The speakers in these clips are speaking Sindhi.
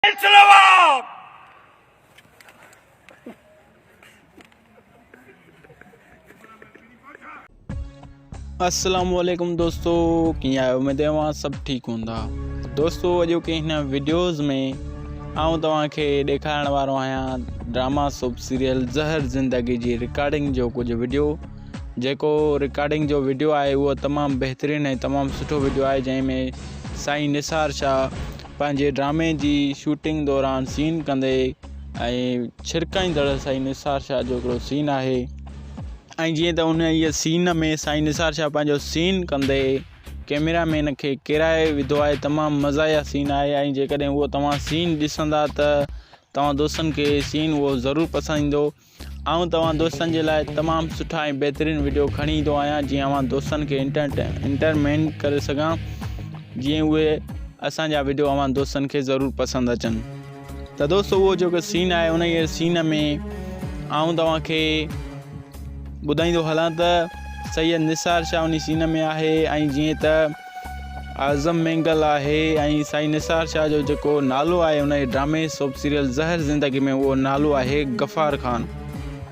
اسلام السلام عليڪم دوستو ڪيئن آهيو اميد اوهان سڀ ٺيڪ هوندا دوستو اڄو ڪي هن ويڊيوز ۾ آئون توهان کي ڏيکارڻ وارو آهيان ڊراما سب سيريل زهر زندگي جي رڪارڊنگ جو ڪجهه ويڊيو جيڪو رڪارڊنگ جو ويڊيو آهي اهو تمام بهترين ۽ تمام سٺو ويڊيو آهي جنهن ۾ سائين نثار شاهه پنهنجي ڊرامي جي شوٽنگ دوران سين ڪندي ۽ ڇرڪائيندڙ سائين نثار شاهه جو هڪڙو سين آهي ۽ جيئن ته ان هي سين ۾ سائين نثار شاهه پنهنجو سين ڪندي ڪيميرا مين کي ڪيرائي وڌو آهي تمام مزايا سين آهي ۽ جيڪڏهن اهو توهان سين ڏسندا ته توهان دوستن کي سين اهو ضرور پسند ايندو آئون توهان دوستن جي لاء تمام سٺا ۽ بهترين وڊيو کڻي ايندو آهيان جيئن اوهان دوستن کي انٽرٽينمينٽ ڪري سگهان جيئن اهي اسان جا وڊيو اوهان دوستن کي ضرور پسند اچن ته دوستو اهو جيڪو سين آهي ان جي سين ۾ آئون توهان کي ٻڌائيندو هلان ته سيد نثار شاهه ان سين ۾ آهي ۽ جيئن ته اعظم مينگل آهي ۽ سائين نثار شاهه جو جيڪو نالو آهي انهيء ڊرامي سوپ سيريل زهر زندگي ۾ اهو نالو آهي غفار خان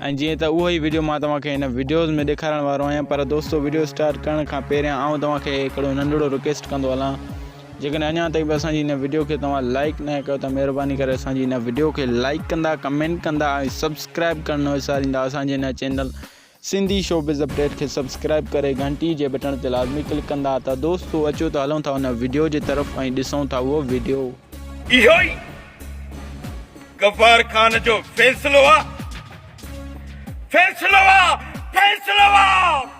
۽ جيئن ته اهو ئي وڊيو مان توهان کي هن وڊيوز ۾ ڏيکارڻ وارو آهيان پر دوستو وڊيو اسٽارٽ ڪرڻ کان پهريان آئون توهان کي هڪڙو ننڍڙو رڪويسٽ ڪندو هلان جيڪڏهن اڃا تائين به اسان جي هن وڊيو کي توهان لائڪ نه ڪيو ته مهرباني ڪري اسان جي هن وڊيو کي لائڪ ڪندا ڪمينٽ ڪندا ۽ سبسڪرائب ڪرڻ نه وساريندا اسان جي هن چينل سنڌي شوبز اپڊيٽ کي سبسڪرائب ڪري گهنٽي جي بٽڻ تي لازمي ڪلڪ ڪندا ته دوستو اچو ته هلون ٿا ان وڊيو جي طرف ۽ ڏسون ٿا اهو وڊيو. اهو ئي غفار خان جو فيصلو آ فيصلو آ فيصلو آ.